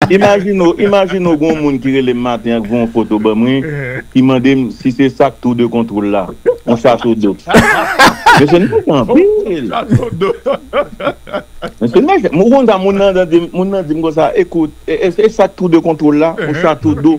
Imajine w, imajine w gen yon moun ki rele m maten an k voye yon foto ban mwen, ki mande m si se sa k tou de kontwol la, yon chato do. Mesye n mechan anpil! Mesye n mechan! M konn sa moun nan di m konsa, ekout, e sa k tou de kontwol la, yon chato do?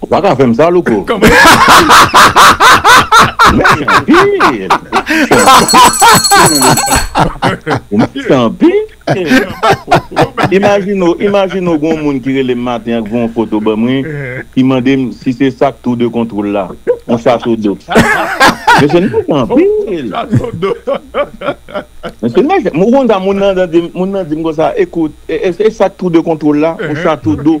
Ou pa ka fèm sa louko. Mèsi anpil. Ou mèsi anpil. Imajine w, imajine w gen yon moun ki rele m maten an ki voye yon foto ban mwen ki mande m si se sak tour de control la, yon chaso do. Mesye m mèsi anpil. Mesye mèsi. Ou konn sa moun nan di m konsa, ekout, e sak tour de control la, yon chaso do.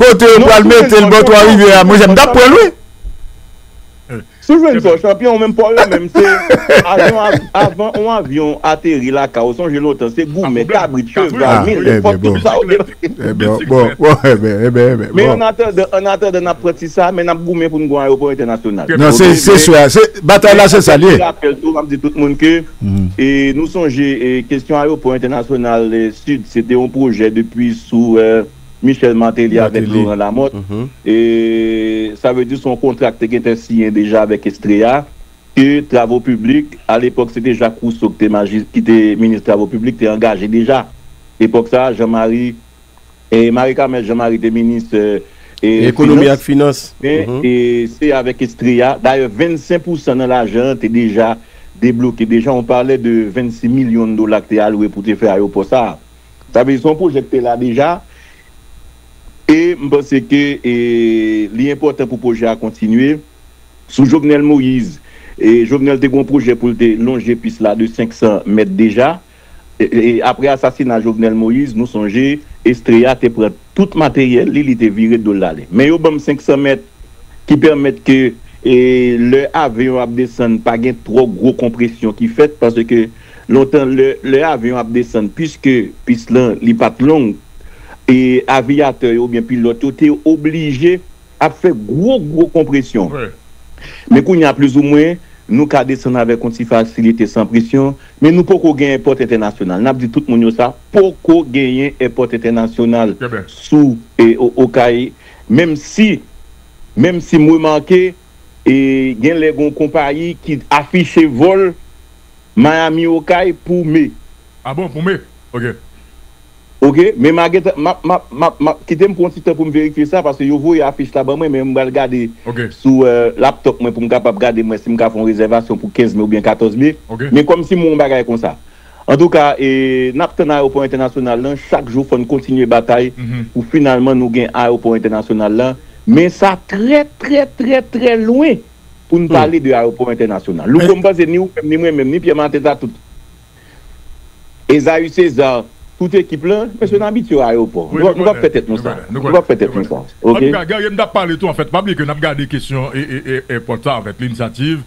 Kote yo pral metel bò 3 rivyè a monchè m tap pranl wi. Steven Paul chanpyon ou menm paw la menm se avan avan on avyon ateri lakay ou sonje lontan se goumen kabrit cheval milèt fòk tout sa yo te men an atandan an atandan nap pran ti sa men nap goumen poun gon ayewopò entènasyonal nan se se swa se batay la se sa li ye rapèl tou map di tout moun ke e nou sonje e kesyon ayewopò entènasyonal sid se te on pwojè depi sou. Michel Martelly avèk Laurent Lamothe. Sa vle di se yon kontra ki te gentan siyen deja avèk Estrella ke Travo Piblik, alepòk se te Jacques Rousseau ki te minis Travo Piblik te angaje deja. Epòk sa a Jean Marie, Marie Carmelle Jean Marie te minis finans. Men se avèk Estrella, dayè 25 pousan nan lajan an te deja debloke deja, on parlait de 26 millions de dollars ki te alwe pou te fè ayewopò sa a. Sa vle di se yon pwojè ki te la deja e m panse ke li enpòtan pou pwojè a kontinye. Sou Jovenel Moise, Jovenel te gen yon pwojè pou l te lonje pis la de 500 mèt deja. Apre asasina Jovenel Moise, nou sonje Estrella te pran tout materyèl li, li te vire do l ale. Men yo ban m 500 mèt ki pèmèt ke lè avyon ap desann pa gen twò gwo konpresyon ki fèt paske Lontan lè avyon ap desann piske pis lan li pat long e aviyatè yo oubyen pilòt yo te oblije ap fè gwo gwo konpresyon. Men kounye a plizoumwen nou ka desann avèk yon ti fasilite san presyon men nou poko gen èpòt entènasyonal. Nap di tout moun yo sa, poko genyen èpòt entènasyonal sou Okay menm si menm si m remake. E gen lè gon konpayi ki afiche vòl Miami Okay pou me. Ah bon pou me ok. Ok men ma gentan map map map map kitem pran yon ti tan poum verifye sa paske yo voye afich la ban mwen men m pral gade sou laptop mwen poum kapab gade m wè sim ka fon rezèvasyon pou 15 me oubyen 14 me men kòm si m wè yon bagay konsa Antouka e nap tann ayewopò entènasyonal lan chak jou fòn kontinye batay pou finalman nou gen ayewopò entènasyonal la men sa trè trè trè trè lwen poun pale de ayewopò entènasyonal louko m panse ni ou menm ni mwen menm ni Pierre Martins a tout Esaü Cesar tout ekip lan mesye n abitye ayewopò nou pap fè tèt nou sa nou pap fè tèt nou sa ok. Antouka Guerrier m tap pale tou anfèt pa bliye ke nap gade kesyon e e èpòt sa anfèt linsativ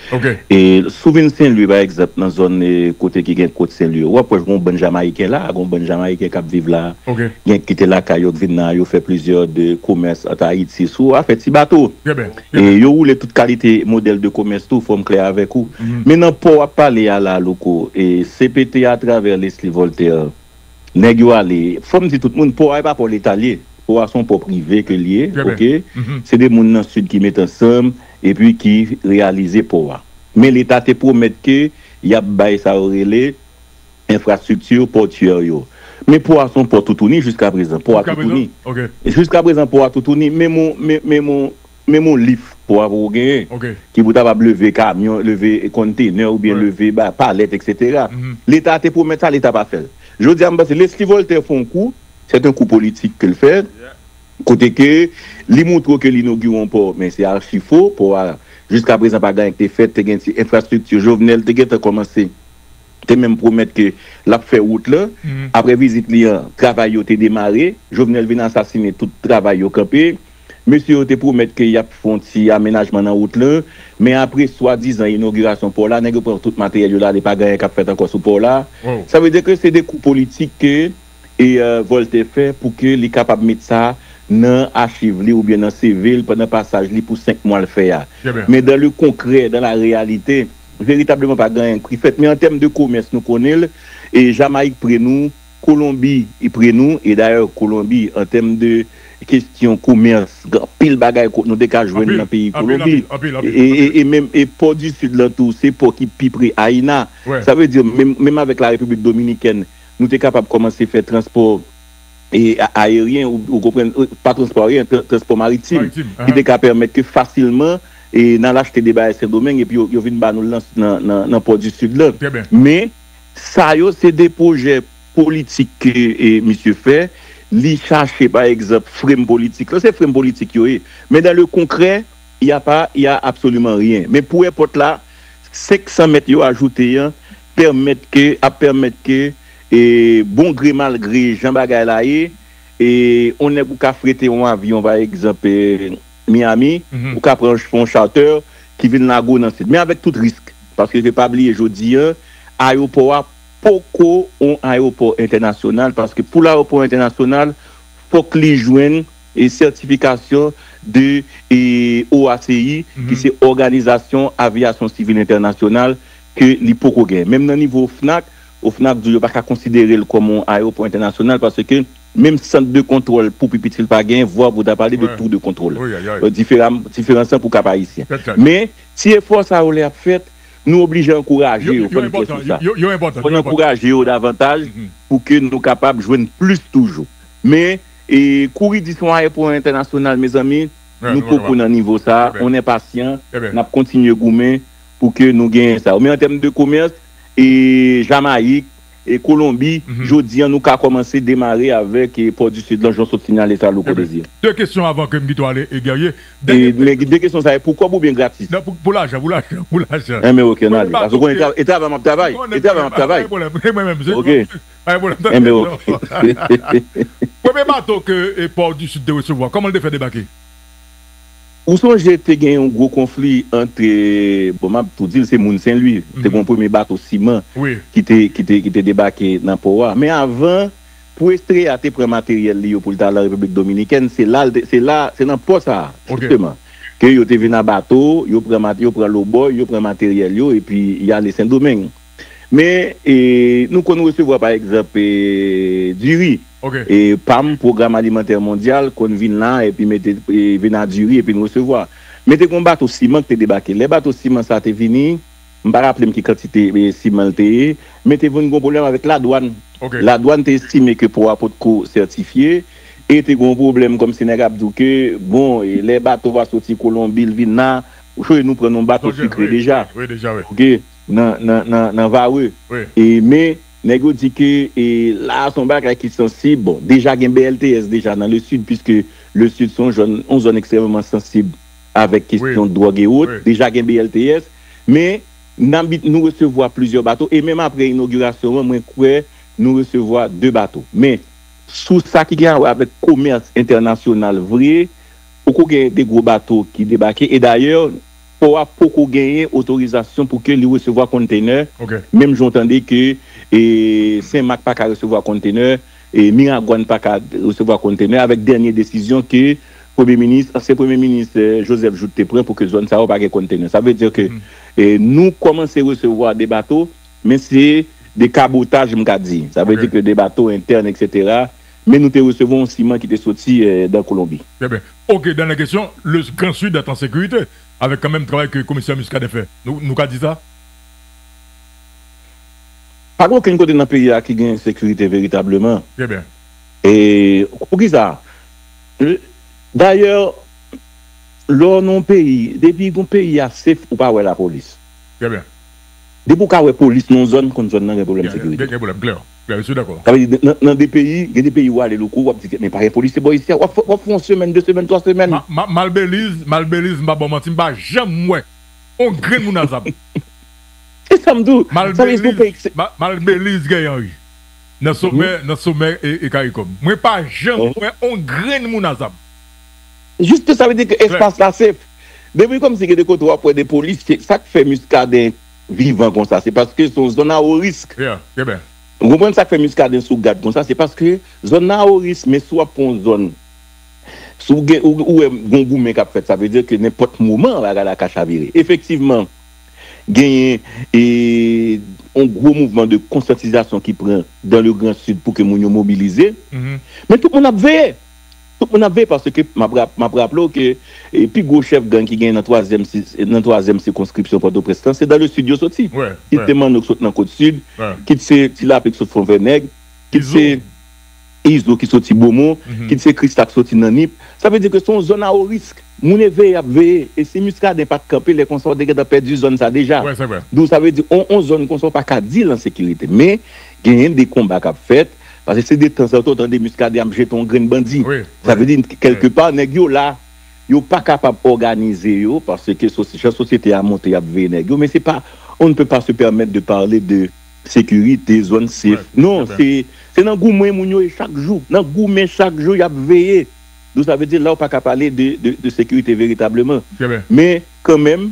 Ok. E sou vin Senlwi pa egzanp nan zòn kote ki gen kot Senlwi yo, w'ap wè gon bann Jamayiken la, gon bann Jamayiken k'ap viv la, Ok. gen ki kite lakay yo k vin nan, yo fè plizyè de komès ant Ayiti sou afè ti bato. Trè byen, trè E byen. yo woule tout kalite modèl de komès tou, fò m klè avèk ou. Mhm. Men nan pò w'ap pale a la Louko, e CPT atravè Lesly Voltaire, nèg yo ale, fò m di tout moun, pò a e pa pò leta l ye, pò a s'on pò prive ke l ye, Trè byen. ok, Mhm. se 2 moun nan Sid ki met ansanm, epi ki reyalize pò a. Men leta te pwomèt ke y ap bay sa yo rele enfrastrikti pòtyè yo. Men pò a se yon pò toutouni jiskaprezan. Pò a toutouni. Jiskaprezan pò a toutouni. Menm yon lif pò a poko genyen ki pou ta kapab leve kamyon, leve konntenè oubyen leve palèt eksetera. Leta te pwomèt sa, leta pa fè l. Jodi a m panse Lesly Voltaire fè yon kou, sèt yon kou politik ke l fè, Kote ke li moutre w ke li inogire yon pò, men se archi fo, pò a jiska prezan pa gen anyen ki te fèt, te gen ti enfrastrikti, Jovenel te gentan kòmanse, te menm pwomèt ke l ap fè wout lan, aprè vizit li an, travay yo te demare, Jovenel vin asasine tout travay yo kanpe, mesye yo te pwomèt ke y ap fè yon ti amenajman nan wout lan, men apre swadizan inogirasyon pò la, nèg yo pran tout materyèl yo l ale pa gen anyen k ap fèt ankò sou pò la, sa vle di ke se de kou politik ke. e Voltè fè pou ke li kapab met sa nan achiv li oubyen nan CV l pandan pasaj li pou 5 mwa l fè a. Men dan le konkrè, dan la reyalite, veritableman pa gen anyen ki fèt. Men an tèm de komès nou konnen l, e Jamayik pre nou, Kolonbi pre nou, e dayè Kolonbi an tèm de kestyon komès gen anpil bagay ke nou te ka jwenn nan peyi Kolonbi. E menm pò di Sid lan tou se pò ki pi pre Ayina. Sa vle di menm avèk la Repiblik Dominikèn, Nou te kapab kòmanse fè transpò aeryen, ou konprann, pa transpò aeryen, transpò maritim, ki te ka pèmèt ke fasilman n al achte de bagay Sendomeng epi yo vin ba nou nan Pò di Sid lan. Men, sa yo se de pwojè politik ke misye fè. Li chache, pa egzanp, frem politik lan. Se frem politik yo ye. Men dan le konkrè, y a pa, y a absoliman ryen. Men pou èpòt la, 500 mèt yo ajoute an, pèmèt ke ap pèmèt ke e bon gre mal gre jan bagay la ye e on nèg ou ka frete on avyon pa egzanp e Miami ou ka pran fè on chatè ki vin lage w nan sid men avèk tout risk paske ke pa bliye jodi an ayewopò a poko on ayewopò entènasyonal paske pou l ayewopò entènasyonal fòk li jwenn e sètifikasyon de e OACI ki se òganizasyon aviyasyon sivil entènasyonal ke li poko gen. Menm nan nivo OFNAC, OFNAC di w yo pa ka konsidere l kòm yon ayewopò entènasyonal paske menm sant de kontwòl pou pi piti l pa gen, vwa pou w ta pale de tour de kontwòl. Diferam, diferans lan pou Kap Ayisyen. Men, ti efò sa yo lè y ap fèt, nou oblije ankouraje yo, fò n klè sou sa. Fò n ankouraje yo davantaj pou ke nou kapab jwenn plis toujou. Men, kouri di se yon ayewopò entènasyonal, mezanmi, nou poko nan nivo sa, on est patient, n ap kontinye goumen. Pou ke nou genyen sa yo. Men an tèm de komès, e Jamayik, e Kolonbi, jodi an nou ka kòmanse demare avèk Port du Sud lan jan w sot sinyale sa Louko Desir. De kesyon avan ke m kite w ale Guerrier. Dènye pwen. Men de kesyon sa e pou kòb oubyen gratis? Non pou lajan, pou lajan, pou lajan. Enben ok an ale. Paske w konnen e travay m ap travay. E travay m ap travay. M konnen, m ap travay. Pa gen pwoblèm. Mwen menm se. Ok. Pa gen pwoblèm. Enben ok. Premye bato ke Port du Sud te resevwa, kòman l te fè debake? Ou sonje te gen yon gwo konfli ant, bon m ap tou di l se moun Senlwi, te gen yon premye bato siman ki te ki te ki te debake nan pò a. Men avan pou Estrella te pran materyèl li yo pou l t al an Repiblik Dominikèn, se la l te se la se nan pò sa a jisteman ke yo te vin a bato, yo pran yo pran lobòy, yo pran materyèl yo epi y ale Sendomeng. Men, nou konn resevwa pa egzanp diri. Pam, Pwogram Alimantè Mondyal, konn vin la epi mete vin a diri epi n resevwa. Men te gen yon bato siman ki te debake. Lè bato siman sa a te vini, m pa raple m ki kantite siman l te ye, men te vin gen yon pwoblèm avèk ladwàn. Ladwàn te estime ke pò a potko sètifye e te gen yon pwoblèm kòmsi nèg ap di w ke, bon, lè bato va soti Kolonbi, l vin la, nou pran yon bato sikre deja. nan varreux e men nèg yo di ke e la a se yon bagay ki sansib bon deja gen BLTS deja nan le sud piske le sud se yon jòn yon zòn ekstrèmeman sansib avèk kestyon dwòg e wot deja gen BLTS men nan bit nou resevwa plizyè bato e menm apre inogirasyon an mwen kwè nou resevwa 2 bato men sou sa ki gen awè avèk komès entènasyonal vre poko gen de gwo bato ki debake e dayè Pò a poko genyen otorizasyon pou ke li resevwa konntenè, menm jan w tande ke Sen Mak pa ka resevwa konntenè, Miragwàn pa ka resevwa konntenè, avèk dènye desizyon ke Premye Minis, ansyen Premye Minis Joseph Jouthe te pran pou ke zòn sa yo pa gen konntenè. Sa vle di ke nou kòmanse resevwa de bato, men se de kabotaj m ka di. Sa vle di ke de bato entèn eksetera, Men nou te resevwa yon siman ki te soti dan Kolonbi. Trè byen. Ok, dènè kesyon, le Grand Sud est en sécurité avèk kan menm travay ke komisè Muscadin fè? Nou nou ka di sa? Pa gen okenn kote nan peyi a ki gen ensekirite veritableman. Trè byen. E pou ki sa? Dayè, lè w nan yon peyi, depi yon peyi a safe, ou pa wè lapolis. Trè byen. Depi ou ka wè polis nan yon zòn, konn zòn nan gen pwoblèm sekirite. Gen pwoblèm, klè. Sa vle di nan de peyi, gen de peyi ou ale louko wap di men pa gen polisye bò isi a, wap fè yon semenn, 2 semenn, 3 semenn. Mal Belize, mal Belize m pa baw manti m pa janm wè yon grenn moun a zam. Se sam di w, sa vle di se yon peyi ki. Mal Belize gen yan wi, nan somè, nan somè e karikom. Mwen pa janm wè yon grenn moun a zam. Juste sa vle di ke espas la safe. Depi komsi gen de kote wap wè de polisye, sak fè Muscadin vivan konsa se paske se yon zòn a wo risk. Ou konprann sak fè Muscadin sou gad konsa se paske zòn nan a wo risk men si w ap pran yon zòn si w gen ou wè gon goumen k ap fèt sa vle di ke nenpòt moman bagay la ka chavire efektivman genyen yon gwo mouvman de konsyantizasyon ki pran dan le gran sid pou ke moun yo mobilize men tout moun ap veye. Tout moun ap veye paske map raple w ke pi gwo chèf gang ki genyen nan twazyèm sikonskripsyon Pòtoprens lan se dan le Sud yo soti. Kit se Manno ki soti nan Kot Sid, kit se Ti Lapli ki soti Fonvènèg, kit se Izo ki soti Bomo, kit se Krista ki soti nan Nip. Sa vle di ke se yon zòn a o risk. Moun e veye yap veye. E si Muscadin pat kanpe lè konsa ou te gentan pèdi zòn sa deja. Donk sa vle di yon zòn konsa ou paka di l an sekirite. Men genyen de konba kap fèt. Paske se de tan zan tan w tande Muscadin ap jete yon grenn bandi. Sa vle di kèlke pa nèg yo la, yo pa kapab òganize yo paske jan sosyete a monte y ap veye nèg yo men se pa on ne peut pas se permettre de parler de sécurité, zòn sef non se nan goumen moun yo ye chak jou nan goumen chak jou y ap veye. Donk sa vle di la ou pa ka pale de sekirite veritableman men kanmenm.